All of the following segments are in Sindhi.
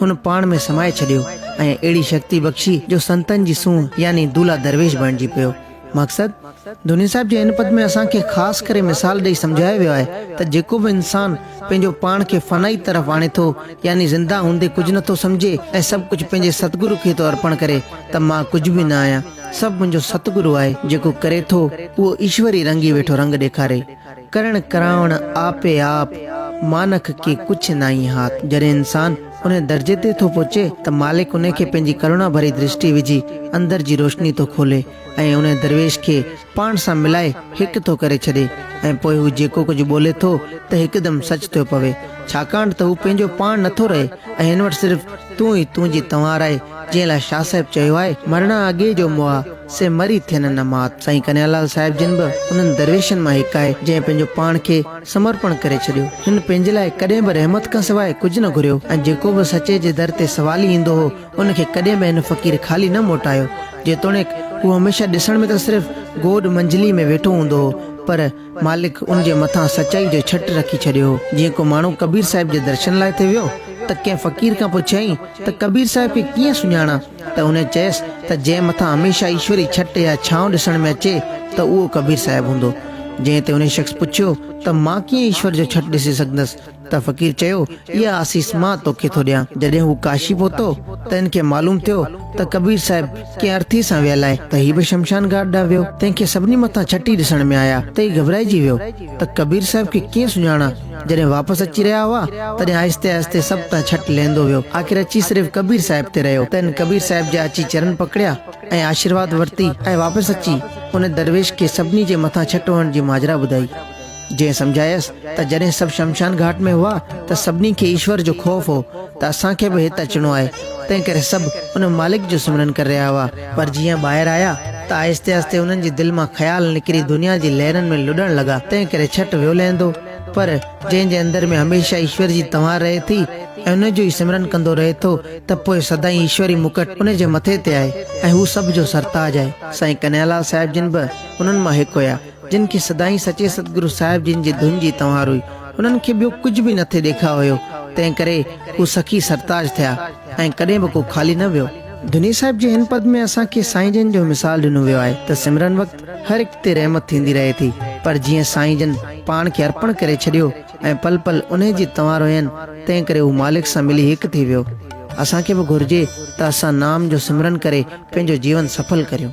هن پاڻ ۾ سمائي ڇڏيو ۽ اهڙي شڪتي بخشي جو سنتن جي سونهن يعني دولهه درويش بڻجي پيو. مقصد، ڌوني صاحب جي هن پد ۾ اسان کي خاص ڪري مثال ڏئي سمجهايو ويو آهي ته جيڪو به انسان پنهنجو پاڻ کي فنائي طرف آڻي ٿو يعني زنده هوندي ڪجهه نه ٿو سمجهي ۽ سڀ ڪجهه پنهنجي ستگرو کي ٿو ارپڻ ڪري ته مان ڪجهه به نه آهيان سڀ منهنجو ستگرو آهي جيڪو ڪري ٿو اهو ايشور ئي رنگي ويٺو رنگ ڏيکاري ڪرڻ ڪرائڻ آپي آپ مانک ڪي ڪڇ ناهين هات جڏهن انسان ان درجي تي ٿو پهچي ته مالڪ ان کي پنهنجي ڪرونا ڀري درشٽي وجهي اندر جي روشني ٿو کولي ۽ ان درويش کي پاڻ سان ملائي هڪ ٿو ڪري ڇڏي ۽ پوء هو جيڪو ڪجهه ٻولي ٿو ته هڪدم سچ ٿيو پوي ڇاڪاڻ ته هو پنهنجو پاڻ نٿو رهي ۽ هن وٽ صرف تون ئي تون جي توهان رهي جنهن لاء شاهه صاحب چيو آهي مرڻان اڳي جو مئا سي مري ٿين نه مات. سائين ڪنھيا لال صاحب جن به انھن درويشن مان ھڪ آھي جنھن پنھنجو پاڻ کي سمرپڻ ڪري ڇڏيو. ھن پنھنجي لاء ڪڏھن به رحمت کان سواء ڪجھ نه گھريو ۽ جيڪو به سچي جي در تي سوالي ايندو ھو ان کي ڪڏھن به ھن فقير خالي نه موٽايو جيتوڻيڪ ھو ھميشه ڏسڻ ۾ ته صرف گوڏ منجھلي ۾ ويٺو ھوندو ھو پر مالڪ ان جي مٿان سچائي جو ڇٽ رکي ڇڏيو ھو جيئن ڪو ماڻھو ڪبير صاحب جي درشن لاء ٿي ويو ته ڪنھن فقير کان پڇيائين ته ڪبير صاحب کي ڪيئن سڃاڻان؟ ته هن چيس ته جنهن مٿان هميشه ايشوري ڇٽ يا ڇانو ڏسڻ ۾ اچي ته اهو ڪبير صاحب هوندو. جنهن تي انهي شخص پڇيو ته مان ڪيئن ايشور جو ڇٽ ڏسي سگهندس ته فقير چيو اها آسيس مان توکي ٿو ڏيان. جڏهن هو ڪاشي پهتو ته هن کي معلوم ٿيو ته ڪبير صاحب ڪنهن ارٿي سان ويل آهي ته هي به شمشان گهاٽ ڏانهن ويو تنهن کي سڀني مٿان ڇٽ ئي ڏسڻ ۾ آيا ته هي گهٻرائجي ويو ته ڪبير صاحب کي ڪيئن سڃاڻان. جڏهن واپس اچي رهيا هئا، تڏهن آهستي آهستي سڀ تان ڇٽ لهندو ويو. آخر اچي صرف ڪبير صاحب تي رهيو. تنهن ڪبير صاحب جا اچي چرن پڪڙيا ۽ آشيرواد ورتي ۽ واپس اچي ان درويش کي سڀني جي مٿان ڇٽ هڻڻ جي ماجرا ٻڌائي. جنهن سمجهايس ته جڏهن سڀ شمشان گهاٽ ۾ هئا ته سڀني کي ايشور جو خوف هو ته اسان کي به هت اچڻو آهي، تنهنڪري سڀ ان مالڪ جو سمرن ڪري رهيا هئا. پر جيئن ٻاهر آيا ته آهستي آهستي انهن جي دل مان خيال نڪري دنيا جي لهرن ۾ لڏڻ لڳا، تنهن ڪري ڇٽ ويو لهندو. پر جنهن جي اندر ۾ هميشه ايشور جي تنوار رهي ٿي ۽ ان جو ئي سمرن ڪندو رهي ٿو ته پوء سدائين ايشوري مڪٽ ان جي مٿي تي آهي ۽ هو سڀ جو سرتاج آهي. سائين ڪنهيا لال صاحب جن به انهن مان هڪ هيا، جن کي سدائين سچي ستگرو صاحب جن جي ڌن جي تنوار هئي. انهن کي ٻيو ڪجهه به نٿي ڏيکاء هيو، تنهن ڪري هو سخي سرتاج ٿيا ۽ ڪڏهن به ڪو خالي نه ويو. دني صاحب جي هن پد ۾ اسان کي سائين جن جو مثال ڏنو ويو آهي ته سمرن وقت هر هڪ تي رحمت ٿيندي رهي ٿي پر جيئن سائين جن پاڻ کي ارپڻ ڪري ڇڏيو ۽ پل پل انهي جي تنوار هين تنهن ڪري هو مالڪ سان ملي هڪ ٿي ويو اسان کي به گهرجي ته اسان نام جو سمرن ڪري پنهنجو جيون سڦل ڪريون.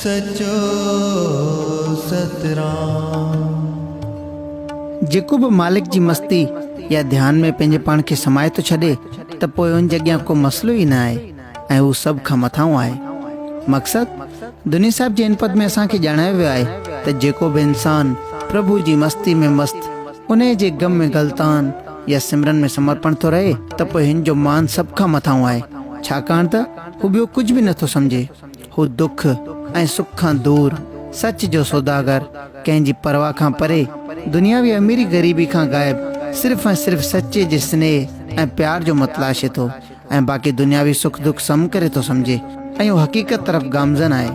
سچو ستران. جيڪو به مالڪ جي مستي يا ڌيان ۾ پنهنجي پاڻ کي سمائي ٿو ڇڏي ته پوء ان جي اڳيان ڪو مسئلو ئي نه آهي ۽ هو سڀ کان مٿانهون آهي. مقصد، دني صاحب جي ان پد ۾ اسان کي ڄاڻايو ويو آهي ته جيڪو به انسان پرڀو جي مستي ۾ مست، انهيء جي غم ۾ غلطان يا سمرن ۾ سمرپڻ ٿو رهي ته پوء هن جو مان سڀ کان مٿانهون آهي، ڇاڪاڻ ته هو ٻيو ڪجهه به نه ٿو سمجهي. هو دک ۽ سک کان دور، سچ جو سوداگر، ڪنهن جي پرواهه کان پري، دنياوي اميري غريبي کان غائب، صرف ۽ صرف سچي جي سنيهه ۽ پيار جو متلاشي ٿو ۽ باقي دنياوي سک دک سم ڪري ٿو سمجهي ۽ هو حقيقت طرف گامزن آهي.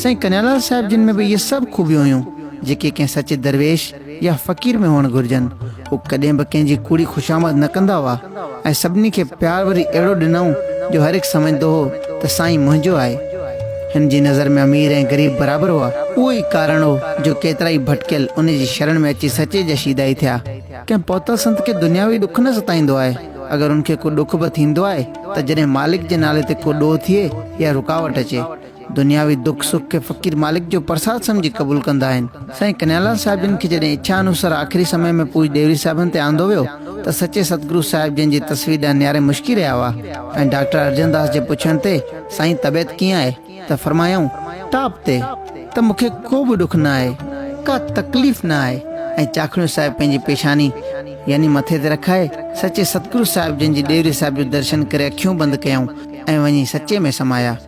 سائين ڪنيالال صاحب جن ۾ به اهي سڀ خوبيون هيون، جيڪي ڪنهن سچي درويش، يا فقير ۾ هئڻ گهرجن. هو ڪڏهن به ڪنهن جي ڪوڙي خوشامد نه ڪندا هئا ۽ سڀني کي پيار وري اهڙو ڏنائون جو هر هڪ سمجهندو هو ته سائين منهنجو آهي. هن جي نظر ۾ امير ۽ غريب برابر هئا. اهو ئي ڪارڻ هو جو ڪيترائي ڀٽڪيل ان جي شرڻ ۾ اچي سچي جا شيدائي ٿيا. ڪنهن پهتل سنت کي دنياوي ڏک نه ستائيندو آهي. اگر ان کي ڪو ڏک به ٿيندو آهي ته جڏهن مالڪ جي نالي تي ڪو ڏوهه ٿئي يا رڪاوٽ اچي. دنياوي دک سک کي فقير مالڪ جو پرساد سمجهي قبول ڪندا آهن. سائين ڪنهيالال صاحب جن کي جڏهن اڇا انوسار آخري سمي ۾ پوڄ ڏيوري صاحبن تي آندو ويو ته سچي ستگرو صاحب جن جي تصوير ڏانهن نياري مشڪي رهيا هئا ۽ ڊاڪٽر ارجن داس جي پڇڻ تي سائين طبعيت ڪيئن آهي ته فرمايائون ٽاپ تي ته مون کي ڪو به ڏک نه آهي ڪا تڪليف نه آهي ۽ چاکڻيو صاحب پنهنجي پيشاني يعني مٿي تي رکائي سچي ستگرو صاحب جن جي ڏيوري صاحب جو درشن ڪري اکيون بند ڪيائون ۽ وڃي سچي ۾ سمايا.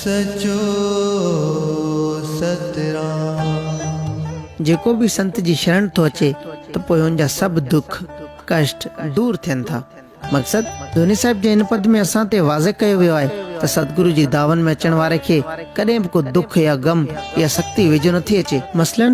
سچو سترام. جيڪو به سنت جي شرڻ ٿو اچي ته پوء هن جا سڀ دک، ڪشٽ، دور ٿين ٿا. مقصد، ڌوني صاحب جي هن پد ۾ اسان تي واضح ڪيو ويو آهي ته ستگرو جي دعون ۾ اچڻ واري کي ڪڏهن به ڪو دک يا غم يا سختي ويجهو نٿي اچي. مثلاً،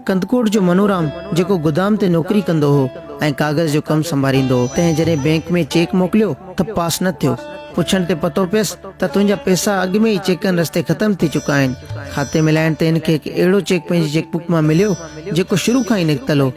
ڪنڌڪوٽ جو منورام جيڪو گدام تي نوڪري ڪندو هو ۽ ڪاغذ جو ڪم سنڀاريندو هو، تنهن جڏهن بئنڪ ۾ چيڪ موڪليو ته پاس نه ٿيو. پڇڻ تي پتو پيس ته تنهنجا پئسا اڳ ۾ ئي چيڪن رستي ختم ٿي چڪا آهن. کاتي ملائڻ تي هن کي هڪ اهڙو چيڪ پنهنجي چيڪ بڪ مان مليو جيڪو شروع کان ئي نڪتل هو.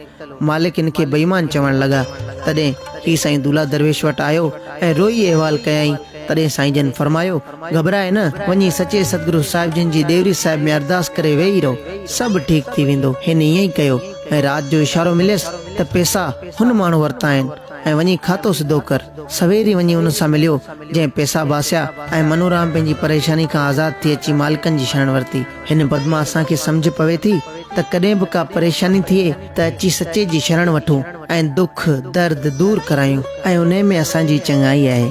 مالڪ هن کي بيمان چوڻ لڳا. تڏهن هي سائين دولا درويش وٽ آيو ۽ روئي احوال ڪيائين. تڏهن سائين جن فرمايو، گهٻرائي نه، وڃي سچي سدگرو صاحب جن جي ڏيوري صاحب ۾ ارداس ڪري ويهي رهو، سڀ ٺيڪ ٿي ويندو. هن ائين ئي ڪيو ۽ رات جو اشارو مليس ته پئسا هن ماڻهو ورتا آهن. ۽ وڃي کاتو سڌو ڪر. سوير ئي وڃي ان سان مليو، جنهن پئسا باسيا ۽ منورام پنهنجي پريشاني کان آزاد ٿي اچي مالڪن جي شرڻ ورتي. هن پدما اسان کي سمجهه پوي ٿي ته ڪڏهن به ڪا پريشاني ٿئي ته اچي سچي جي شرڻ وٺون ۽ دک، درد، دور ڪرايون ۽ انهي ۾ اسان جي ئي چڱائي آهي.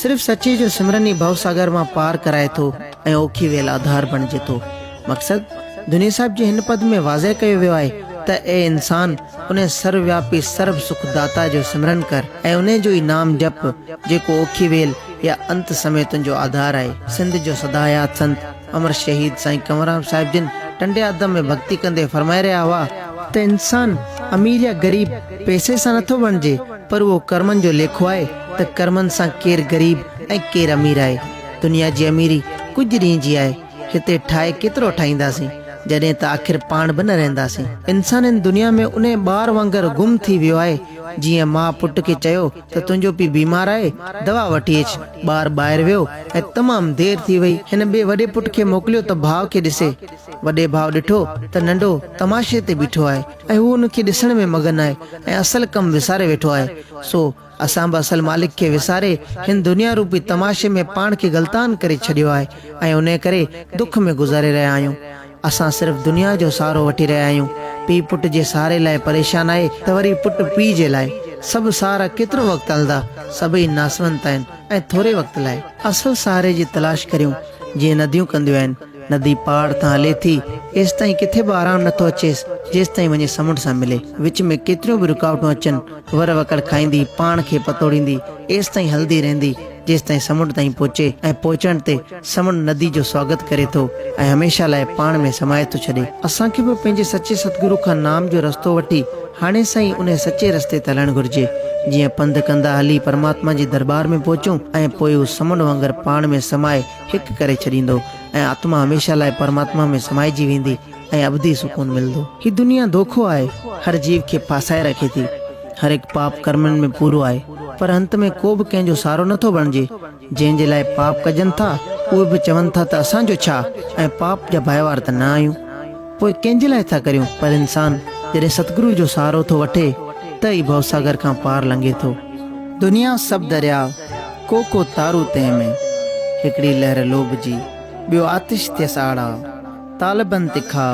صرف سچي جو سمرن ئي ڀو ساگر مان پار ڪرائي ٿو ۽ اوکي ويل آڌار بڻجي ٿو. مقصد دنيي صاحب جي هن پد ۾ واضح ڪيو ويو آهي ته اي انسان انهي سر وياپي سرب سک داتا جو سمرن ڪر ۽ انهي جو ئي نام جپ جيڪو اوکي ويل يا انت سمي تنهنجو آڌار آهي. سنڌ جو سداحيات سنت. امر شهيد سائين ڪنوررام صاحب جن ٽنڊي آدم ۾ ڀڳتي ڪندي فرمائي رهيا هئا ته انسان امير يا غريب پئسي سان نٿو بڻجي پر اهو ڪرمن جو ليکو آهي ته ڪرمن سان ڪير غريب ۽ ڪير امير آهي دنيا جي اميري ڪجهه ڏينهن جي آهي هتي ٺاهي ڪيترو ٺاهينداسين جڏهن ته آخر پاڻ به نه رهنداسين انسان هن دنيا ۾ انهي ٻار وانگر گم ٿي ويو آهي جيئن ماء پٽ کي چيو ته تنهنجو پيء بيمار آهي، دوا وٺي اچ. ٻار ٻاهر ويو ۽ تمام دير ٿي وئي. هن ٻئي وڏي پٽ کي موڪليو ته ڀاء کي ڏسي. وڏي ڀاء ڏٺو ته ننڍو تماشي تي بيٺو آهي ۽ هو ان کي ڏسڻ ۾ مگن آهي ۽ اصل ڪم وساري ويٺو آهي. سو اسان به اصل مالڪ کي وساري هن دنيا روپي تماشي ۾ پاڻ کي غلطان ڪري ڇڏيو آهي ۽ انهيء ڪري دک ۾ گذاري رهيا آهيون. اسان صرف دنيا جو سهارو وٺي رهيا آهيون. پيء پٽ جي سهاري لاء پريشان آهي ته وري پٽ پيء جي لاء. سڀ سهارا ڪيترو وقت هلندا؟ سڀئي ناسونت آهن ۽ ٿوري وقت لاء. اصل سهاري جي تلاش ڪريون جيئن نديون ڪنديون آهن. ندي پاڙ تان هلي ٿي، ايستائين ڪٿي به آرام نٿو اچيس، جيستائين وڃي سمنڊ سان ملي. وچ ۾ ڪيتريون به رڪاوٽون اچن، ور وڪڙ کائيندي، پاڻ کي پتوڙيندي، ايستائين هلندي رهندي، جيستائين سمنڊ تائين پهچي ۽ پهچڻ تي، سمنڊ ندي جو سواگت ڪري ٿو ۽ هميشه لاء پاڻ ۾ سمائي ٿو ڇڏي. اسان کي به پنهنجي سچي ستگرو کان نام جو رستو وٺي هاڻي سان ئي انهي سچي رستي تي هلڻ گهرجي جيئن پنڌ ڪندا هلي پرماتما جي درٻار ۾ پهچون ۽ پوء هو سمنڊ وانگر پاڻ ۾ سمائي هڪ ڪري ڇڏيندو ۽ آتما هميشه لاء پرماتما ۾ سمائجي ويندي ۽ ابدي سڪون ملدو. هي دنيا ڌوکو آهي هر جيو کي ڦاسائي رکي ٿي هر هڪ پاپ ڪرمن ۾ پورو آهي پر انت ۾ ڪو به ڪنهن جو سهارو نٿو بڻجي. جنهن جي لاء پاپ ڪجن ٿا، اهي به چون ٿا ته اسان جو ڇا ۽ پاپ جا ڀائيوار ته نه آهيون، پوء ڪنهن جي لاء ٿا ڪريون، پر انسان جڏهن ستگرو جو سهارو ٿو وٺي ته ئي ڀوساگر کان پار لنگهي ٿو. دنيا سڀ درياء، ڪو ڪو تارو تنهن ۾، هڪڙي لهر لوڀ جي، ٻيو آتش ٿيس آڙاء. طالبن تکا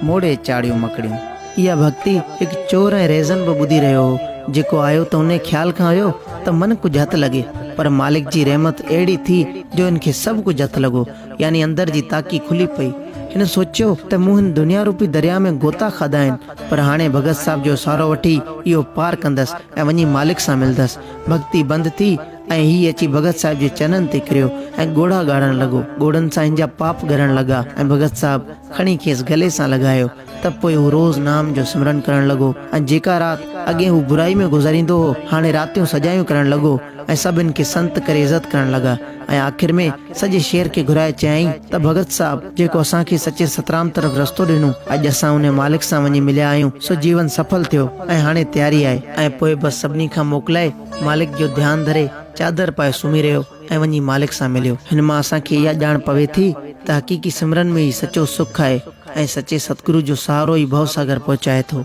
موڙي چاڙهيون مڪڙيون. اها ڀڳتي هڪ چور ۽ ريزن به ٻڌي رهيو هو، جيڪو آيو ته انهيء خيال کان هيو ته من ڪجهه هٿ لڳي، پر مالڪ جي رحمت اهڙي ٿي جو هن کي سڀ ڪجهه هٿ لڳو، يعني اندر جي تاڪي کلي پئي. هن سوچيو ته مون هن دنيا روپي درياء ۾ غوطا کاڌا آهن، پر هاڻي ڀڳت صاحب جو سهارو وٺي اهو پار ڪندس ۽ وڃي مالڪ سان ملندس. ڀڳتي بند ٿي ۽ هي اچي ڀڳت صاحب جي چنن تي ڪريو ۽ ڳوڙها ڳاڙڻ لڳو. ڳوڙهن سان هن جا پاپ ڳرڻ لڳا ۽ ڀڳت صاحب کڻي کيس گلي سان لڳايو ته پوء هو روز نام جو سمرن ڪرڻ لڳو ۽ جيڪا رات اڳي هو برائي ۾ گذاريندو هو هاڻي راتيون سڄايون ڪرڻ لڳو ۽ سڀ هن کي سنت ڪري عزت ڪرڻ لڳا ۽ آخر ۾ سڄي شهر کي گهرائي چيائين ته ڀڳت صاحب جيڪو اسان کي سچي سترام طرف رستو ڏنو اڄ اسان انهي مالڪ سان وڃي مليا آهيون سو جيون سڦل ٿيو ۽ هاڻي تياري آهي ۽ پوء بس سڀني کان موڪلائي مالڪ جو ڌيان ڌري چادر پائي سمهي رهيو ۽ وڃي مالڪ سان مليو. هن مان اسان کي اها ڄاڻ پوي ٿي ته حقيقي سمرن ۾ ئي سچو سک آهي ۽ سچي ستگرو جو سهارو ئي ڀو ساگر پهچائي ٿو.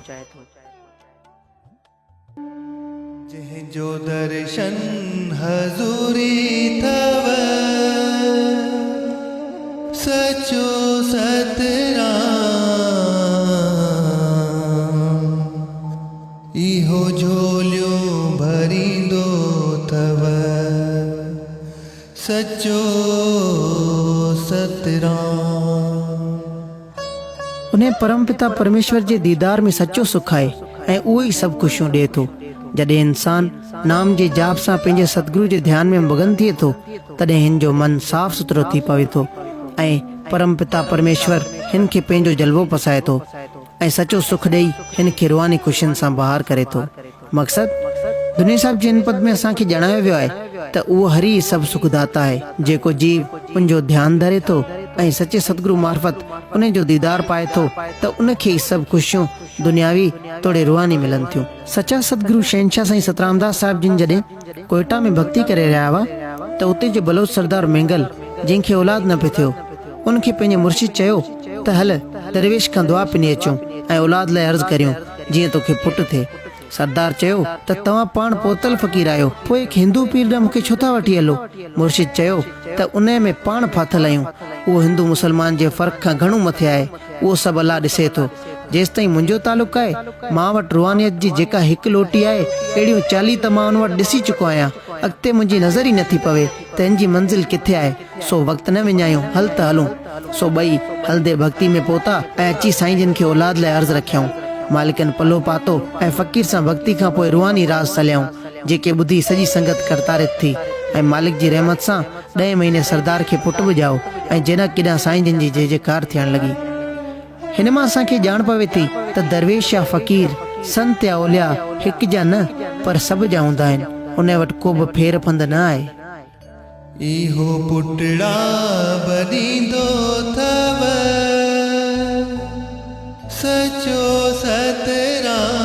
جنهن جو درشن حضوري ٿئو، سچو سترام. اهو جهوليون ڀريندو اٿو سچو ستران. انهيء پرمپتا پرميشور جي ديدار ۾ سچو سک آهي ۽ اهو ئي سڀ خوشيون ڏئي ٿو. جڏهن انسان نام جي جاپ سان پنهنجي ستگرو جي ڌيان ۾ مگن ٿئي ٿو، تڏهن هن جو من صاف سٿرو ٿي پوي ٿو ۽ پرمپتا پرميشور هن کي پنهنجو جلوو پسائي ٿو. ۽ سچو سک ڏئي هن کي روحاني خوشين سان بهار ڪري ٿو. مقصد؟ دنيا صاحب جي هن پد ۾ اسان کي ڄاڻايو ويو آهي ته اهو هري ئي سڀ سک داتا آهي، جيڪو جيو ان جو ڌيان ڌري ٿو ۽ سچي ستگرو معرفت انهي جو ديدار پائي ٿو ته ان کي ئي سڀ خوشيون دنياوي توڙي روحاني ملن ٿيون. سچا ستگرو شهنشاهه سائين سترامداس صاحب جن جڏهن. ڪوئيٽا ۾ ڀڳتي ڪري رهيا هئا ته اتي جو بلوچ سردار مينگل جنهن کي اولاد نه پئي ٿيو ان کي پنهنجي مرشد چيو ته هل درويش کان دعا پني اچون ۽ اولاد لاء عرض ڪريون جيئن توکي پٽ ٿئي سردار چيو ته توهان پاڻ پوتل فقير آهيو پوء هڪ هندو پير ڏانهن مون کي ڇو ٿا وٺي هلو مرشد چيو ته انهي ۾ پاڻ ڦاٿل آهيون اهو هندو مسلمان جي فرق کان گهڻو مٿي آهي اهو سڀ الله ڏسي ٿو. جيستائين منهنجو تعلق آهي، مان وٽ روحانيت جي جيڪا هڪ لوٽي آهي، اهڙيون چاليهه ته مان ان وٽ ڏسي چڪو آهيان. اڳتي منهنجي نظر ئي نٿي پوي ته هن جي منزل ڪٿي آهي. سو وقت نه وڃايون، هل ته هلون. سو ٻئي، هلندي ڀڳتي ۾ پهتا ۽ اچي سائين جن کي اولاد لاء عرض رکيائون. مالڪن پلو پاتو ۽ فقير سان ڀڳتي کان پوء روحاني راز سليائون، جيڪي ٻڌي سڄي سنگت ڪرتارٿ ٿي ۽ مالڪ جي رحمت سان ڏهين مهيني سردار کي پٽ به ڄائو ۽ جنڪ ڪيڏانهن سائين جن جي جي جي ڪار ٿيڻ لڳي. هن مان اسان کي ڄاڻ پوي ٿي ته درويش يا فقير، سنت يا اولياء هڪ جا نه پر سڀ جا هوندا آهن، انهي وٽ ڪو به ڦير پنڌ نه آهي. اهو پٽڙا به ڏيندو ٿئو سچو سترام.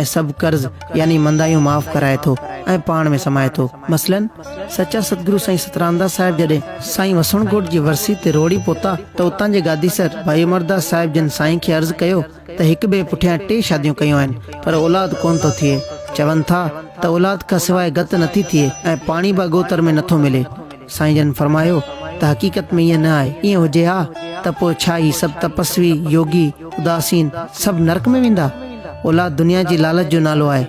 ۽ سڀ قرض يعني مندايون معاف ڪرائي ٿو ۽ پاڻ ۾ سمائي ٿو مثلاً سچا ستگرو سائين سترامداس صاحب جڏهن سائين وسڻ ڳوٺ جي ورسي تي روهڙي پهتا ته اتان جي گاديسر ڀائي امرداس صاحب جن سائين کي عرض ڪيو ته هڪ ٻئي پٺيان ٽي شاديون ڪيون آهن پر اولاد ڪونه ٿو ٿئي چون ٿا ته اولاد کان سواء گت نٿي ٿئي ۽ پاڻي به اڳوتر ۾ نٿو ملي سائين جن فرمايو ته حقيقت ۾ ائين نه آهي، ائين هجي ها ته پوء ڇا هي سڀ تپسوي، يوگي، اداسين سڀ نرڪ ۾ ويندا؟ اولاد دنيا جي لالچ جو نالو آهي.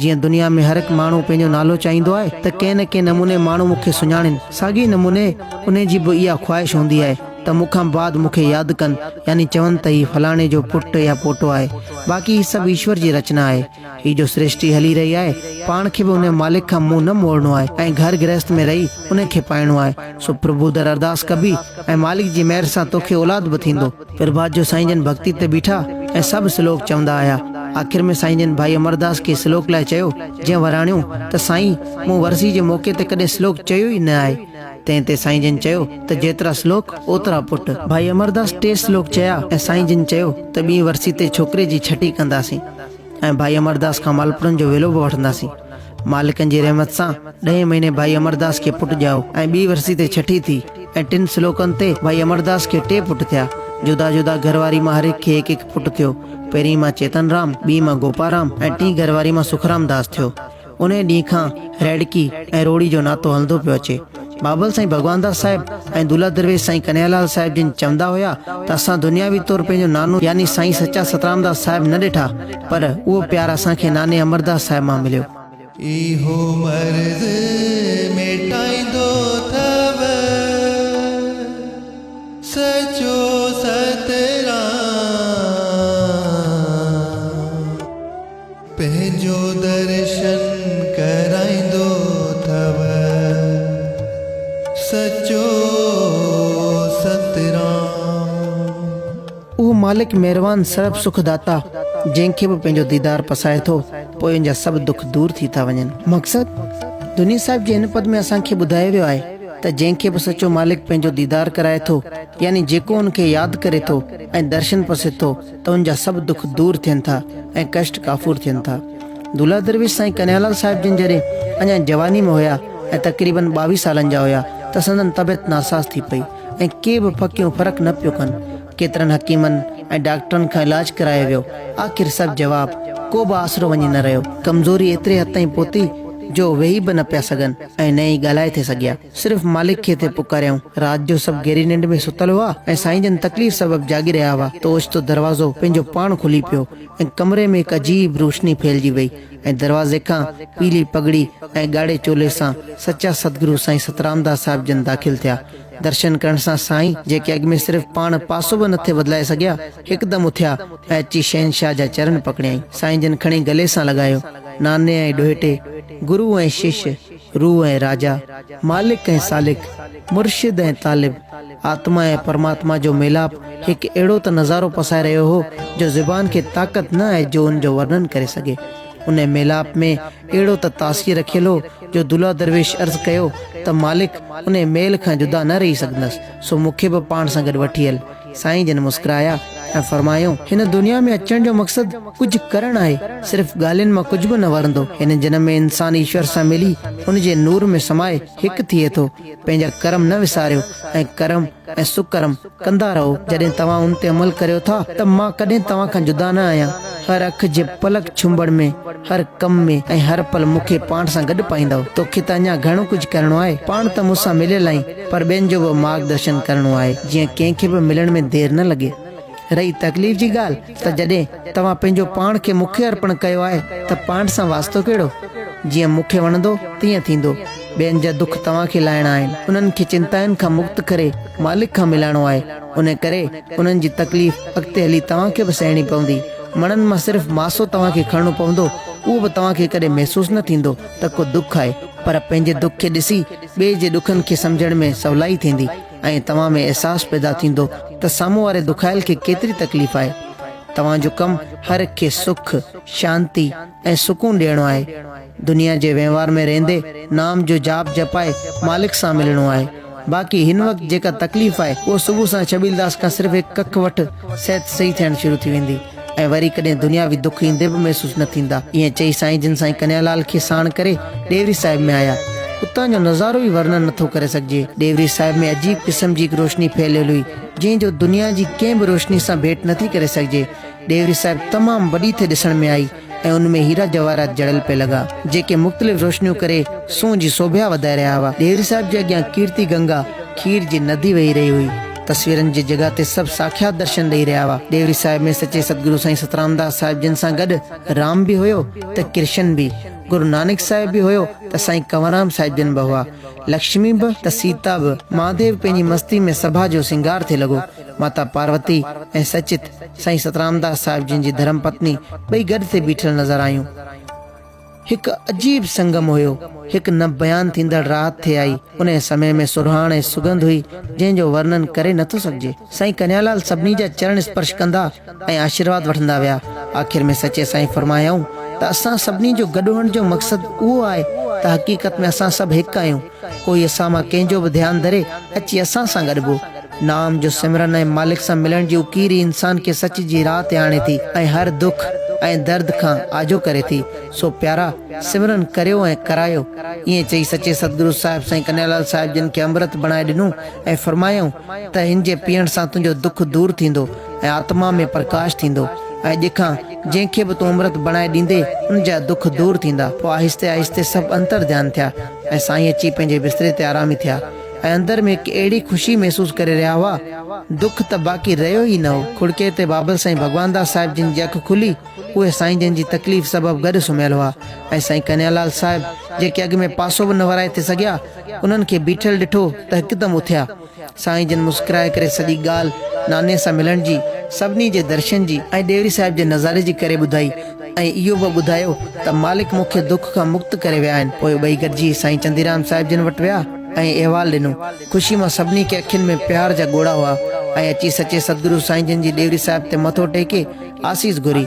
جيئن دنيا ۾ هر هڪ ماڻهو پنهنجو نالو چاهيندو آهي ته ڪنهن نه ڪنهن نموني ماڻهو مون کي سڃاڻين، ساڳئي نموني انهي جي به اها خواهش هوندي آهي ته مون کان بعد مون کي ياد ڪن يعني چون ته هي فلاڻي جو پٽ يا پوٽو آهي. باقي هي سڀ ايشور جي رچنا آهي. هي جو سرشٽي هلي رهي آهي، پاڻ کي به ان جي مالڪ کان منهن نه موڙڻو آهي ۽ گهر گرهست ۾ رهي انهي کي پائڻو آهي. سو پرڀو در ارداس ڪبي ۽ مالڪ جي مهر سان توکي اولاد به ٿيندو. پرڀات جو سائين جن ڀڳتي تي بيٺا ۽ سڀ سلوڪ چوندا آيا. آخر ۾ سائين جن ڀائي امرداس کي سلوڪ لاء چيو، جنهن وراڻيو ته سائين مون ورسي جي موقعي تي ڪڏهن سلوڪ چيو ئي نه آهي. تنهن تي سائين جن چيو ته جيترا سلوڪ اوترا پٽ. ڀائي امرداس ٽي سلوڪ چيا ۽ سائين جن چيو ته ٻينهي ورسي تي ڇوڪري جي ڇٽي ڪنداسين. ۽ ڀائي امرداس کان مالپوڙن جو ويلو به وٺنداسين. مالڪن جي رحمت سان ڏهين مهيني ڀائي امرداس کي پٽ ڄائو ۽ ٻي ورسي تي ڇٺي ٿي ۽ ٽن سلوڪن تي ڀائي امرداس کي ٽي پٽ ٿيا. جدا جدا گهر واري مان هر هڪ کي هڪ هڪ پٽ ٿيو. پهرين مان چيتن رام، ٻي مان گوپا رام ۽ ٽين گهر واري مان سکرام داس ٿيو. انهيء ڏينهن کان ريڙڪي ۽ روڙي جو ناتو هلندو پيو اچي. بابل سائين ڀڳوانداس صاحب ۽ دولهه درويش سائين ڪنهيالال صاحب جن چوندا هيا ته اسان دنياوي طور پنهنجو نانو يعني سائين سچا سترامداس صاحب نه ڏٺا پر اهو پيار اسان کي ناني امرداس صاحب مان مليو. اهو مرض مٽائيندو اٿئو سچو سترام. پنهنجو درشن ڪرائيندو ٿو سچو سترام. اهو مالڪ مهربان سرب سک داتا جنهن کي به پنهنجو ديدار پسائي ٿو پوء ان جا سڀ دک دور ٿي ٿا وڃن. مقصد، دنيي صاحب جي هن پد ۾ اسان کي ٻڌايو ويو آهي ته جنهن کي به سچو مالڪ پنهنجو ديدار ڪرائي ٿو يعني جيڪو ان کي ياد ڪري ٿو ۽ درشن پسي ٿو، ته ان جا سڀ دک دور ٿين ٿا ۽ ڪشٽ ڪافور ٿين ٿا. دولهه درويش سائين ڪنهيالال صاحب جن جڏهن اڃا جواني ۾ هيا ۽ تقريبن ٻاويهه سالن جا هيا ته سندن طبعيت ناساز ٿي پئي ۽ ڪي به ڦڪيون فرق نه پيو ڪن. ڪيترن حڪيمن ۽ ڊاڪٽرن کان علاج ڪرايو ويو آخر سڀ جواب ڪو به آسرو وڃي نه رهيو. ڪمزوري ايتري حد تائين پهتي جو ويهي به نه پيا سگهن ۽ نه ئي ڳالهائي ٿي سگهيا. صرف مالڪ کي ٿي پڪاريائون. رات جو سڀ گهري ننڊ ۾ ستل هئا ۽ سائين جن تڪليف سبب جاڳي رهيا هئا ته اوچتو دروازو پنهنجو پاڻ کلي پيو ۽ ڪمري ۾ هڪ عجيب روشني ڦهلجي وئي ۽ دروازي کان پيلي پڳڙي ۽ ڳاڙهي چولي سان سچا سدگرو سائين سترامداس صاحب جن داخل ٿيا. درشن ڪرڻ سان سائين جيڪي اڳ ۾ صرف پاڻ پاسو به نه ٿي بدلائي سگهيا هڪدم اٿيا ۽ اچي شهنشاهه جا چرن پڪڙيائين. سائين جن کڻي گلي سان لڳايو. ناني ۽ ڏوهيٽي، گرو ۽ شش، روح ۽ راجا، مالڪ ۽ سالڪ، مرشد ۽ طالب، آتما ۽ پرماتما جو ميلاپ هڪ اهڙو ته نظارو پسائي رهيو هو جو زبان کي طاقت نه آهي جو ان جو ورنن ڪري سگهي. ان ميلاپ ۾ اهڙو ته تاثير رکيل هو جو دلها درويش عرض ڪيو ته مالڪ انهي ميل کان جدا نه رهي سگهندس سو مون کي به پاڻ سان گڏ وٺي هل. سائين جن مسڪرايا ۽ فرمايائون، هن دنيا ۾ اچڻ جو مقصد ڪجهه ڪرڻ آهي، صرف ڳالهين مان ڪجهه به نه ورندو، هن جنم ۾ انسان ايشور سان ملي ان جي نور ۾ سمائي هڪ ٿئي ٿو، پنهنجا ڪرم نه وساريو ۽ ڪرم ۽ سڪرم ڪندا رهو، جڏهن توهان ان تي عمل ڪريو ٿا ته مان ڪڏهن توهان کان جدا نه آهيان، هر اک جي پلڪ ڇنبڻ ۾ هر ڪم ۾ ۽ هر پل مون کي پاڻ سان گڏ پائيندؤ، توکي ته اڃا گهڻو ڪجهه ڪرڻو آهي، پاڻ ته مون سان مليل آهين. پر ٻين جو به مارگ درشن ڪرڻو آهي جيئن ڪنهن کي به ملڻ ۾ دير نه لڳي. رهي تڪليف جي ڳالهه ته جڏهن توهان پنهنجو پاڻ کي مون کي ارپڻ ڪيو آهي ته پاڻ سان واسطو ڪهڙو؟ جيئن مون کي وڻندو تيئن ٿيندو. ٻين جا دک توهان کي لاهڻا آهن، انهن کي چنتائن کان مڪت ڪري مالڪ کان ملائڻو آهي. انهي ڪري انهن جي تڪليف اڳتي هلي توهان کي به سهڻي پوندي. مڻن مان صرف ماسو توهان کي کڻڻو پوندو، اهو به توهان کي ڪڏهن محسوس نه ٿيندو ته ڪو دک آهي پر پنهنجي دک کي ڏسي، ٻئي جي ڏکن کي سمجهڻ ۾ سولائي ٿيندي ۽ توهان ۾ احساس پيدا ٿيندو ته سامهون واري دکايل کي ڪيتري تڪليف آهي. توهان جو ڪم هر هڪ کي سک، شانتي ۽ سڪون ڏيڻو آهي. دنيا جي وهنوار ۾ رهندي نام جو جاپ جپائي مالڪ سان ملڻو آهي. باقي هن وقت جيڪا تڪليف آهي اهو صبح سان ڇٻيلداس کان صرف هڪ ڪک وٺ صحت صحيح ٿيڻ شروع ٿي ويندي. ۽ وري ڪڏهن دنياوي دک ايندي به محسوس نه ٿيندا. ائين چئي سائين جن سائين ڪنهيا لال کي ساڻ ڪري ڏيوري صاحب ۾ آيا. اتان جو نظارو ئي ورنن نه ٿو ڪري سگهجي. ڏيوري صاحب ۾ عجيب قسم جي هڪ روشني ڦهليل هئي، جنهن جو دنيا جي ڪنهن به روشني سان ڀيٽ نه ٿي ڪري سگهجي. ڏيوري صاحب تمام وڏي ٿي ڏسڻ ۾ آئي. ۽ ان ۾ هيرا جواهرات جڙيل پئي لڳا، جيڪي مختلف روشنيون ڪري سونهن جي سوڀيا وڌائي رهيا هئا. ڏيري صاحب جي اڳيان ڪيرتي گنگا، کير جي ندي وهي رهي هئي. تصويرن جي جڳهه تي سڀ ساکيات درشن ڏئي رهيا هئا. ڏيوري صاحب ۾ سچي ستگرو سائين سترامداس صاحب جن سان گڏ رام به هيو ته ڪرشن به، گرو نانڪ صاحب به هيو ته سائين ڪنوررام صاحب جن به هئا. لڪشمي به ته سيتا به، مهاديو پنهنجي مستي ۾ سڀا جو سينگار ٿي لڳو. ماتا پاروتي ۽ سچت سائين سترامداس صاحب جن جي ڌرم پتني ٻئي گڏ تي بيٺل نظر آيون. هڪ عجيب سنگم هيو. هڪ نه بيان ٿيندڙ راحت ٿي آئي. انهيء سمي ۾ سرهاڻ ۽ سگنڌ هئي، جنهن جو ورنن ڪري نه ٿو سگهجي. سائين ڪنهيالال سڀني جا چرڻ اسپرش ڪندا ۽ آشيرواد وٺندا ويا. آخر ۾ سچي سائين فرمايائون ته اسان سڀني جو گڏ هئڻ جو مقصد اهو آهي ته حقيقت ۾ اسان سڀ هڪ آهيون. ڪوئي اسان مان ڪنهن جو به ڌيان ڌري اچي اسان سان گڏ بو. نام جو سمرن ۽ مالڪ سان ملڻ جي اڪير ئي انسان کي سچ جي راهه تي آڻي ٿي ۽ هر دک ۽ درد کان آجو ڪري ٿي. سو پيارا! سمرن ڪريو ۽ ڪرايو. ائين چئي سچي ستگرو صاحب سائين ڪنهيالال صاحب جن کي امرت بڻائي ڏنو ۽ فرمايائون ته هن جي پيئڻ سان تنهنجو دک دور ٿيندو. ۽ آتما ۾ پرڪاش ٿيندو ۽ اڄ کان جنهن کي به تون امرت بڻائي ڏيندي ان جا دک دور ٿيندا پوء آهستي آهستي سڀ انتر ڌيان ٿيا ۽ سائين اچي پنهنجي بستري تي آرامي ٿيا ۽ اندر ۾ هڪ اهڙي خوشي محسوس ڪري رهيا هئا دک ته باقي رهيو ئي نه هو کڙڪي تي بابل سائين ڀڳوانداس صاحب جن جي اک کلي اهي سائين جن جي تڪليف سبب گڏ سمهيل هئا ۽ سائين ڪنهيالال صاحب جيڪي اڳ ۾ پاسو به نه ورائي ٿي سگهيا انهن کي بيٺل ڏٺو ته هڪدم اٿيا سائين جن مسڪرائي ڪري سڄي ڳالهه ناني سان ملڻ جي، سڀني جي درشن جي ۽ ڏيوري صاحب جي نظاري جي ڪري ٻڌائي ۽ اهو به ٻڌايو ته مالڪ مون کي دک کان مڪت ڪري ويا آهن. پوء ٻئي گڏجي سائين چنديرام صاحب جن وٽ ويا ۽ احوال ڏنو. خوشي مان سڀني کي اکين ۾ پيار جا ڳوڙها هئا ۽ اچي سچي سدگرو سائين جن جي ڏيوري صاحب تي مٿو ٽيڪي آسيس گهري.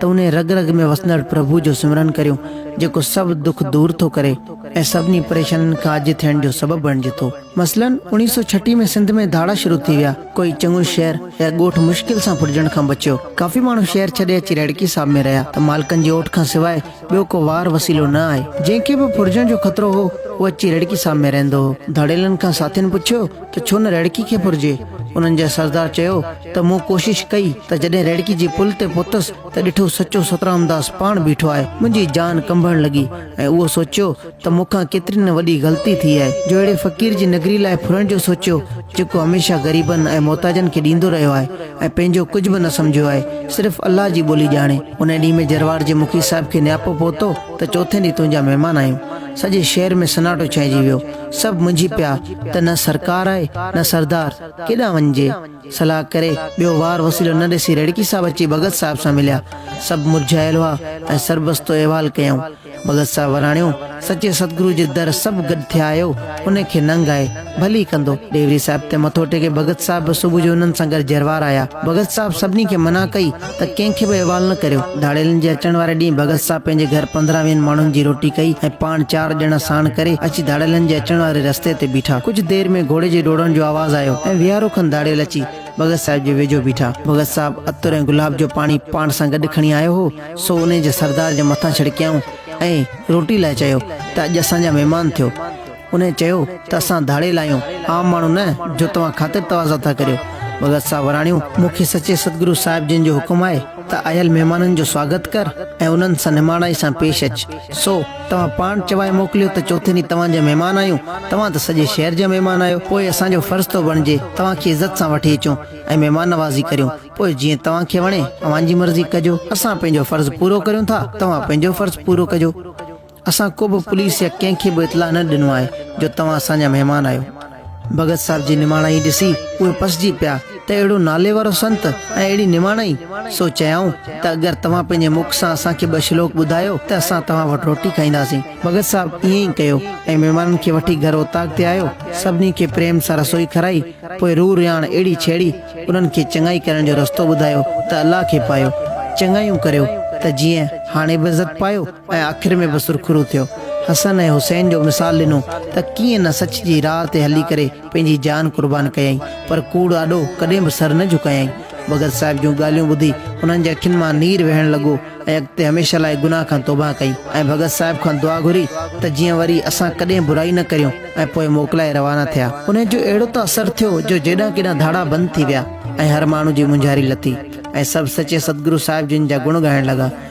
ته انهي رڳ رڳ ۾ وسندڙ پرڀو جو سمرن ڪريون جيڪو سڀ دک دور ٿو ڪري ۽ سڀني پريشانين کان اجهي ٿيڻ جو سبب بڻجي ٿو. مثلاً اوڻيهه سؤ ڇٽيهه ۾ سنڌ ۾ ڌاڙا شروع ٿي ويا، ڪوئي چڱو شهر يا ڳوٺ مشڪل سان ڦٽجڻ کان بچيو، ڪافي ماڻهو شهر ڇڏي اچي رهڙڪي صاحب ۾ رهيا ته مالڪن جي اوٽ کان سواء ٻيو ڪو وار وسيلو نه آئي، جنهن کي به ڦٽجڻ جو خطرو هو اهو اچي رهڙڪي صاحب ۾ رهندو هو، ڌاڙيلن کان ساٿين پڇيو ته ڇو نه ريڙڪي کي ڦرجي. انهن جي سردار چيو ته مون ڪوشش ڪئي ته جڏهن ريڙڪي جي پل تي پهتس ته ڏٺو سچو سترامداس پاڻ بيٺو آهي. منهنجي جان ڪنبڻ لڳي ۽ اهو سوچيو ته مون کان ڪيتري نه وڏي غلطي ٿي آهي جو اهڙي فقير جي نگري لاء ڦرڻ جو سوچيو جيڪو هميشه غريبن ۽ محتاجن کي ڏيندو رهيو آهي ۽ پنهنجو ڪجهه به نه سمجهيو آهي صرف الله جي ٻولي ڄاڻي. انهي ڏينهن ۾ جروار جي مکي صاحب کي نياپو پهتو ته چوٿين ڏينهن تنهنجا مهمان آهيون. سڄي شهر ۾ سناٽو ڇانئجي ويو. سڀ منجهي پيا ته نه سرڪار آهي نه سردار، ڪيڏانهن وڃجي؟ صلاح ڪري ٻيو وار وسيلو نه ڏسي ريڙڪي صاحب اچي ڀڳت صاحب سان مليا. سڀ مرجهايل هئا ۽ سربستو احوال ڪيائون. ڀڳت صاحب وراڻيو، سچي ستگرو جي در سڀ گڏ ٿيا آهيو، ان کي ننگ آهي، ڀلي ڪندو. ڏيوري صاحب تي مٿو ٽيڪي ڀڳت صاحب به صبح جو انهن سان گڏ جروار آيا. ڀڳت صاحب سڀني کي منع ڪئي. ته ڪنهن کي به احوال نه ڪريو. ڌاڙيلن جي اچڻ واري ڏينهن ڀڳت صاحب پنهنجي گهر پندرهن ويهن ماڻهن جي روٽي ڪئي ۽ پاڻ چار ڄڻا ساڻ ڪري اچي ڌاڙيلن جي اچڻ واري رستي تي بيٺا. ڪجهه دير ۾ گهوڙي جي ڊوڙڻ جو آواز آيو ۽ ويهارو کن ڌاڙيل اچي ڀڳت صاحب جي ويجهو بيٺا. ڀڳت صاحب عطر ۽ گلاب جو پاڻي پاڻ سان گڏ کڻي آيو هو، سو انهي جي سردار جي مٿان ڇڙڪيائون ۽ روٽي لاء چيو ته اڄ اسان جا مهمان ٿيو. انهيء چيو ته اسان ڌاڙيل آهيون، عام ماڻهو نه، جو توهان خاطر تواضع ٿا ڪريو. ڀڳت صاحب وراڻيو، مون کي سچي ستگرو صاحب جن جو حڪم آهي ته آيل مهمانن جو سواگت ڪر ۽ انهن سان نماڻائي سان پيش اچ. سو، توهان پاڻ چوائي موڪليو ته چوٿين ڏينهن توهان جا مهمان آهيون، توهان ته سڄي شهر جا مهمان آهيو، پوء اسان جو فرض ٿو بڻجي توهان کي عزت سان وٺي اچون ۽ مهمان نوازي ڪريون، پوء جيئن توهان کي وڻي، اوهان جي مرضي ڪجو. اسان پنهنجو فرض پورو ڪريون ٿا، توهان پنهنجو فرض پورو ڪجو. اسان ڪو به پوليس يا ڪنهن کي به اطلاع نه ڏنو آهي جو توهان اسان جا مهمان آهيو. ڀڳت صاحب جي نماڻائي ڏسي اهي پسجي پيا ته اهڙو نالي وارو سنت ۽ اهڙي نماڻائي! سو چيائون ته اگر توهان پنهنجي مک سان اسان کي ٻه شلوڪ ٻڌايو ته اسان توهان وٽ روٽي کائينداسين. ڀڳت صاحب ائين ئي ڪيو ۽ مهمانن کي وٺي گهر اوطاق تي آيو، سڀني کي پريم سان رسوئي کارائي، پوء روح رياڻ اهڙي ڇيڙي، انهن کي چڱائي ڪرڻ جو رستو ٻڌايو ته الله کي پايو، چڱايون ڪريو ته جيئن هاڻي به عزت پايو. ۽ آخر ۾ به سرخرو ٿيو. حسن ۽ حسين جو مثال ڏنو ته ڪيئن نه سچ جي راهه تي هلي ڪري پنهنجي جان قربان ڪيائين پر ڪوڙ آڏو ڪڏهن به سر نه جهڪايائين. ڀڳت صاحب جون ڳالهيون ٻڌي انهن جي اکين مان نير وهڻ لڳو ۽ اڳتي هميشه لاء گناهه کان توبهه ڪئي ۽ ڀڳت صاحب کان دعا گهري ته جيئن وري اسان ڪڏهن برائي نه ڪريون ۽ پوء موڪلائي روانا ٿيا. انهن جو اهڙو ته اثر ٿيو جو جيڏانهن ڪيڏانهن ڌاڙا بند ٿي ويا ۽ هر ماڻهو جي مونجهاري لٿي ۽ سڀ سچي ستگرو صاحب جن جا گڻ ڳائڻ لڳا.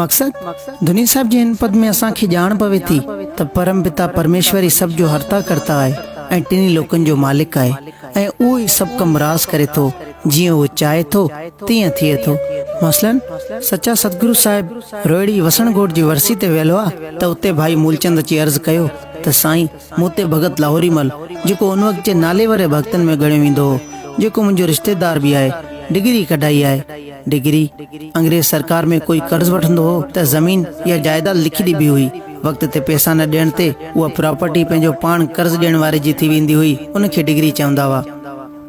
مقصد، ڌني صاحب جي هن پد ۾ اسان کي ڄاڻ پوي ٿي ته پرم پتا پرميشور ئي سڀ جو هرتا ڪرتا آهي ۽ ٽنهي لوڪن جو مالڪ آهي ۽ اهو ئي سڀ ڪم راس ڪري ٿو جيئن اهو چاهي ٿو تيئن ٿئي ٿو مثلاً سچا سدگرو صاحب روهڙي وسڻ گوٺ جي ورسي تي ويل هئا ته اتي ڀائي مولچند اچي عرض ڪيو ته سائين موتي ڀڳت لاهوري مل، جيڪو ان وقت جي ناليوري ڀڳتن ۾ ڳڻيو ويندو هو، جيڪو منهنجو رشتيدار به آهي، ڊگري ڪڍائي آهي. ڊگري؟ انگريز سرڪار ۾ ڪوئي قرض وٺندو هو ته زمين يا جائيداد لکي ڏبي هئي، وقت تي پئسا نه ڏيڻ تي اها پراپرٽي پنهنجو پاڻ قرض ڏيڻ واري جي ٿي ويندي هئي، ان کي ڊگري چوندا هئا.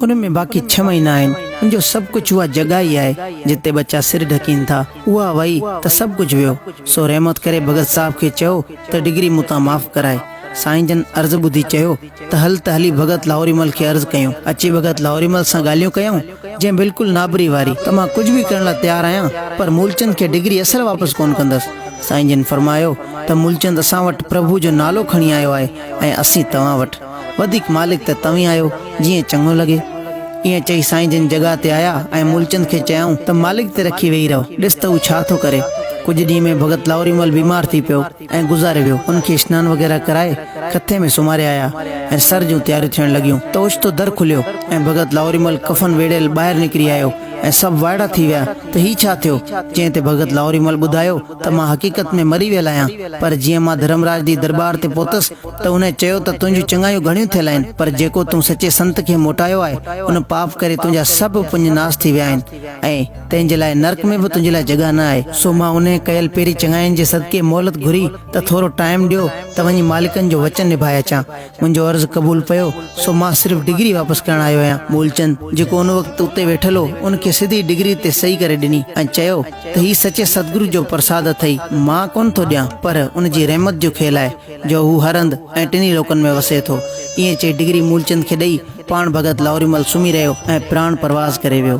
ان ۾ باقي ڇهه مهينا آهن، ان جو سڀ ڪجهه اها جڳهه ئي آهي، جتي ٻچا سر ڍڪين ٿا. اها وئي ته سڀ ڪجهه ويو، سو رحمت ڪري ڀڳت صاحب کي چئو ته ڊگري مون تان معاف ڪرائي. سائين جن عرض ٻڌي چيو ته هل ته هلي ڀڳت لاهوري مل کي عرض ڪيون. اچي ڀڳت لاهوري مل سان ڳالهيون ڪيائون، جنهن بلڪل نابري واري ته مان ڪجهه به ڪرڻ لاء تيار آهيان، پر مولچند کي ڊگري اصل واپس ڪونه ڪندس. سائين جن فرمايو ته مولچند اسان وٽ پرڀو جو نالو کڻي آيو آهي ۽ اسين توهان وٽ. وڌيڪ مالڪ ته توهين آهيو، جيئن چڱو لڳي. ائين چئي سائين جن جڳهه تي آيا ۽ مولچند کي چيائون ته مالڪ تي رکي ويهي رهو، ڏس ته هو ڇا ٿو ڪري. ڪجهه ڏينهن ۾ ڀڳت لاهوري مل بيمار ٿي پيو ۽ گذاري ويو. ان کي اسنان وغيره ڪرائي کٿي ۾ سمهاري آيا ۽ سر جون تياريون ٿيڻ لڳيون ته اوچتو در کليو ۽ ڀڳت لاهوري مل ڪفن ويڙهيل ٻاهر نڪري آيو ۽ سڀ وائڙا ٿي ويا ته هي ڇا ٿيو؟ جنهن تي ڀڳت لاهوري مل ٻڌايو ته مان حقيقت ۾ مري ويل آهيان، پر جيئن مان ڌرمراج جي درٻار تي پهتس ته انهيء چيو ته تنهنجون چڱايون گهڻيون ٿيل آهن، پر جيڪو تون سچي سنت کي موٽايو آهي، ان پاپ ڪري تنهنجا سڀ پڃ ناس ٿي ويا آهن، ۽ تنهن جي لاء نرڪ ۾ به تنهنجي لاء جڳهه نه آهي. سو مان انهيء ڪيل پيرين چڱاين جي صدقي مهلت گهري ته ٿورو ٽائيم ڏيو ته وڃي مالڪن جو وچن نڀائي اچان. منهنجو عرض قبول پيو، سو مان صرف ڊگري واپس ڪرڻ آيو آهيان. مولچند، جيڪو ان وقت اتي ويٺل هو، ان کي سڌي ڊگري تي صحيح ڪري ڏني ۽ چيو ته هي سچي ستگرو جو پرساد اٿئي، مان ڪونه ٿو ڏيان، پر ان جي رحمت جو کيل آهي، جو هو هر هنڌ ۽ ٽنهي لوڪن ۾ وسي ٿو. ائين چئي ڊگري مولچند کي ڏئي، پاڻ ڀڳت لاهوريمل سمهي رهيو ۽ پراڻ پرواز ڪري ويو.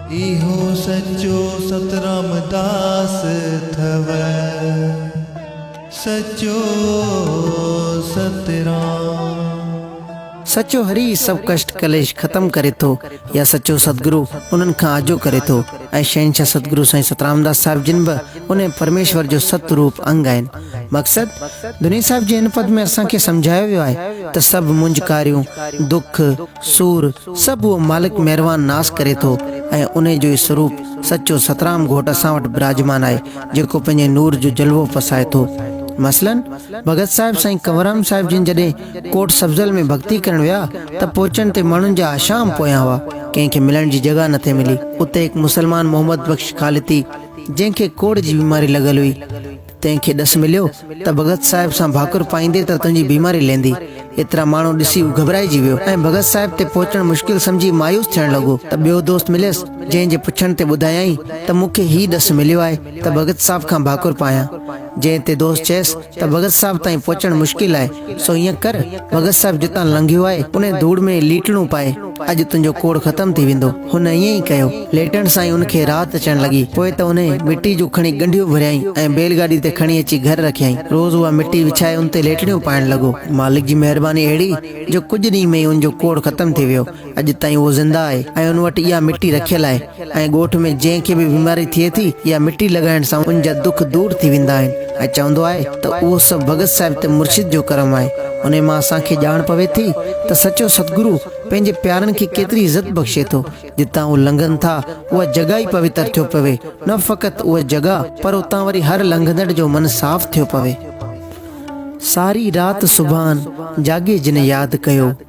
اهو سچو سترام داس اٿئو سچو سترام. سچو هري ئي سڀ ڪشٽ ڪليش ختم ڪري ٿو يا سچو سدگرو انهن کان آجو ڪري ٿو ۽ شهنشاهه سدگرو سائين سترامداس صاحب جن به انهي پرميشور جو ست روپ انگ آهن مقصد دني صاحب جي هن پد ۾ اسان کي سمجهايو ويو آهي ته سڀ مونجهڪاريون دک سور، سڀ اهو مالڪ مهروان ناس ڪري ٿو ۽ انهيء جو ئي سروپ سچو سترام گهوٽ اسان وٽ براجمان آهي، جيڪو پنهنجي نور جو جلوو پسائي ٿو. مثلاً، ڀڳت صاحب سائين ڪنورام صاحب جن جڏهن ڪوٽ سبزل ۾ ڀڳتي ڪرڻ ويا ته پوچن تي ماڻهن جا احشام پويان هئا، ڪنهن کي ملڻ جي جڳهه نه ٿي ملي. اتي هڪ مسلمان محمد بخش خالتي، جنهن کي ڪوڙهه جي بيماري لڳل هئي، تنهن کي ڏس مليو ته ڀڳت صاحب سان ڀاڪر پائيندي ته تنهنجي بيماري لهندي. ايترا ماڻهو ڏسي هو گهٻرائجي ويو ۽ ڀڳت صاحب تي پهچڻ مشڪل سمجهي مايوس ٿيڻ لڳو ته ٻيو دوست مليس جنهن جي پڇڻ تي ٻڌايائين ته مون کي هي ڏس مليو آهي ته ڀڳت صاحب کان ڀاڪر پايان جنهن تي دوست چيس ته ڀڳت صاحب تائين پهچڻ مشڪل آهي سو ائين ڪر ڀڳت صاحب جتان لنگهيو آهي انهي ڌوڙ ۾ ليٽڻو پائي اڄ تنهنجو ڪوڙ ختم ٿي ويندو. هن ائين ئي ڪيو. ليٽڻ سان ئي ان کي راحت اچڻ لڳي. پوء ته هن مٽي جون کڻي ڳنڍيون ڀريائين ۽ بيل گاڏي تي کڻي اچي گهر رکيائين. روز اها مٽي وڇائي ان تي ليٽڻيون پائڻ لڳو. مالڪ جي مهرباني اهڙي جو ڪجهه ڏينهن ۾ ئي ان جو ڪوڙ ختم ٿي ويو. اڄ تائين اهو زنده آهي ۽ ان وٽ اها مٽي رکيل آهي. ۽ ڳوٺ ۾ جنهن کي به بيماري ٿئي ٿي يا مٽي لڳائڻ سان ان جا دک دور ٿي ويندا آهن ۽ چوندو آهي ته اهو سڀ ڀڳت صاحب ته مرشد جو ڪرم آهي انهي مان اسان کي ڄاڻ پوي ٿي ته سچو ستگرو پنهنجي پيارن کي ڪيتري عزت بخشي ٿو جتان اهي لنگهن ٿا اها جڳهه ئي پوتر ٿيو پوي نه فقط اها جڳهه پر اتان وري هر لنگهندڙ جو من صاف ٿيو پوي ساري رات سبحان جاڳي جنهن ياد ڪيو.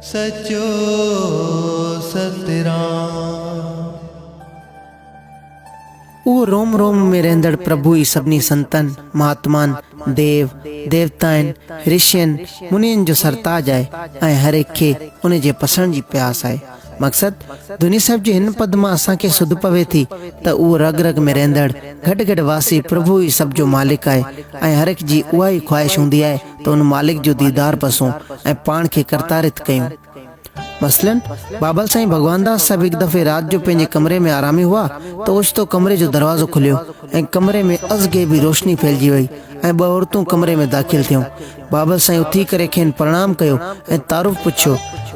سچو ستران. اهو روم روم ۾ رهندڙ پرڀو ئي سڀني سنتن، مهاتمان، ديو، ديوتائن، رشين، منين جو سرتاج آهي ۽ هر هڪ کي ان جي پسڻ جي پياس آهي. مقصد دوني صاحب جي هن پد مان اسان کي سڌ پوي ٿي ته اهو رڳ رڳ ۾ رهندڙ گهٽ گهٽ واسي پرڀو ئي سڀ جو مالڪ آهي ۽ هر هڪ جي اها ئي خواهش هوندي آهي ته ان مالڪ جو ديدار پسون ۽ پاڻ کي ڪرتارٿ ڪيون. مثلاً، بابل سائين ڀڳوانداس صاحب هڪ دفعي رات جو پنهنجي ڪمري ۾ آرامي هئا ته اوچتو ڪمري جو دروازو کليو ۽ ڪمري ۾ ازغيبي روشني ڦهلجي وئي ۽ ٻه عورتون ڪمري ۾ داخل ٿيون. بابل سائين اٿي ڪري کين پرڻام ڪيو ۽ تعارف پڇيو،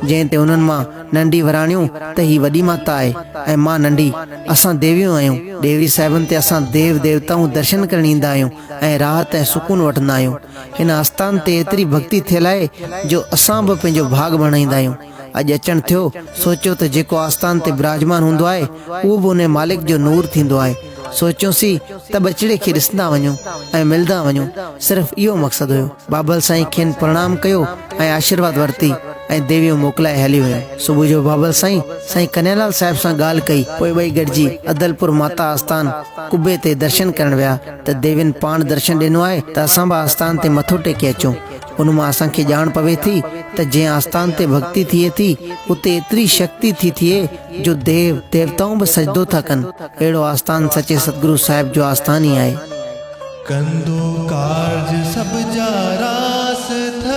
جنهن تي انهن مان ننڍي وراڻيو ته هي وڏي ماتا آهي ۽ مان ننڍي، اسان ديويون آهيون. ديوي صاحبن تي اسان ديو ديوتائون درشن ڪرڻ ايندا آهيون ۽ راحت ۽ سڪون وٺندا آهيون. هن آستان تي ايتري ڀڳتي ٿيل آهي جو اسان به پنهنجو ڀاڳ ڀڻائيندا آهيون. اڄ اچڻ ٿيو، سوچيو ته جيڪو آستان تي براجمان هوندو آهي، اهو به انهي مالڪ جو نور ٿيندو آهي. سوچيونسي ته ٻچڙي کي ڏسندا وڃون ۽ ملندا وڃون، صرف اهو مقصد هيو. بابل سائين کين پرڻام ڪيو ۽ آشيرواد ورتي ۽ ديويون موڪلائي هلي ويو. صبح جو بابل سائين، سائين ڪنهيالال صاحب سان ڳالهه ڪئي، پوء ٻئي گڏجي عدلپور ماتا آستان قبي تي درشن ڪرڻ ويا. ته ديوين پاڻ درشن ڏنو آهي ته اسان به آستان تي مٿو ٽيڪي اچون. ان مان اسان کي ڄاڻ پوي ٿي ته جنهن آستان تي ڀڳتي ٿئي ٿي، اتي ايتري شڪتي ٿي ٿئي جو ديو، ديوتائون به سجدو ٿا ڪن. اهڙو آستان سچي ستگرو صاحب جو آستان ئي آهي. ڪندو ڪارج سڀ جا راس ٿئي.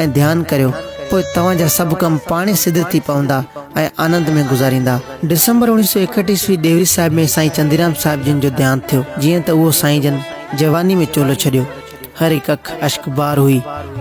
۽ ڌيان ڪريو، پوء توهان جا سڀ ڪم پاڻهي سڌ ٿي پوندا ۽ آنند ۾ گذاريندا. ڊسمبر اوڻيهه سؤ ايڪهٺ عيسوي ڏيوري صاحب ۾ سائين چنديرام صاحب جن جو ديهانت ٿيو، جيئن ته اهو سائين جن جواني ۾ چولو ڇڏيو. هر هڪ اک اشڪ بار هئي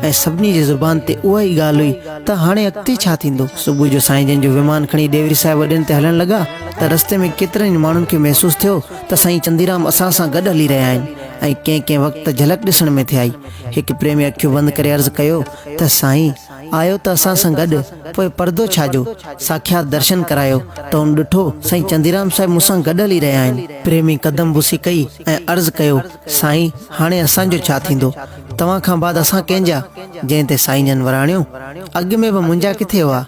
۽ سڀني جي زبان تي اها ئي ڳالهه هئي ته هاڻي اڳتي ڇا ٿيندو؟ صبح جو سائين جن جو ومان کڻي ڏيوري صاحب اڏين تي هلڻ لڳا ته رستي ۾ ڪيترن ئي ماڻهن کي محسوس ٿيو ته سائين چنديرام اسان سان گڏ هلي رهيا آهن ۽ ڪنهن ڪنهن وقت ته جهلڪ ڏسڻ ۾ ٿي آئي هڪ پريمي اکيون بند ڪري عرض ڪيو ته سائين آيو ته اسان سان گڏ پوء پردو ڇا جو؟ ساکيات درشن ڪرايو ته ان ڏٺو سائين چنديرام صاحب مون سان گڏ هلي رهيا آهن. پريمي قدم بوسي ڪئي ۽ عرض ڪيو سائين هاڻي اسان جو ڇا ٿيندو؟ توهان کان بعد اسان ڪنهن جا؟ جنهن تي سائين جن وراڻيو اڳ ۾ به منهنجا ڪٿي هئا؟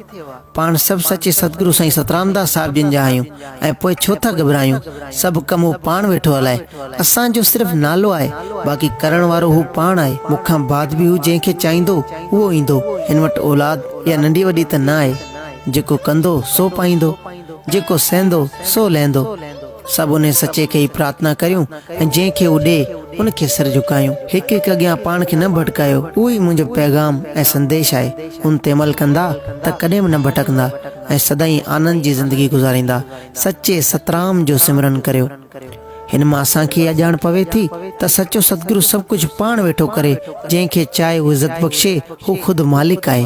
پاڻ سڀ سچي ستگرو سائين سترامداس صاحب جن جا آهيون ۽ پوء ڇو ٿا گهٻرايون، سڀ ڪم هو پاڻ ويٺو هلائي، اسان جو صرف نالو آهي، باقي ڪرڻ وارو هو پاڻ آهي، مون کان بعد به هو جنهن کي چاهيندو اهو ايندو، هن وٽ اولاد يا ننڍي وڏي ته نه آهي، جيڪو ڪندو سو پائيندو، جيڪو سهندو سو لهندو. سڀ انهيء سچي کي ئي پرارٿنا ڪريون ۽ جنهن کي هو ڏئي، ان کي سر جهڪايون. هڪ هڪ اڳيان پاڻ کي نه ڀٽڪايو، اهو ئي منهنجو پيغام ۽ سنديش آهي. ان تي عمل ڪندا ته ڪڏهن به نه ڀٽڪندا ۽ سدائين آنند جي زندگي گذاريندا. سچي سترام جو سمرن ڪريو. هن مان اسان کي اها ڄاڻ پوي ٿي ته سچو ستگرو سڀ ڪجهه پاڻ ويٺو ڪري، جنهن کي چاهي هو عزت بخشي، هو خود مالڪ آهي.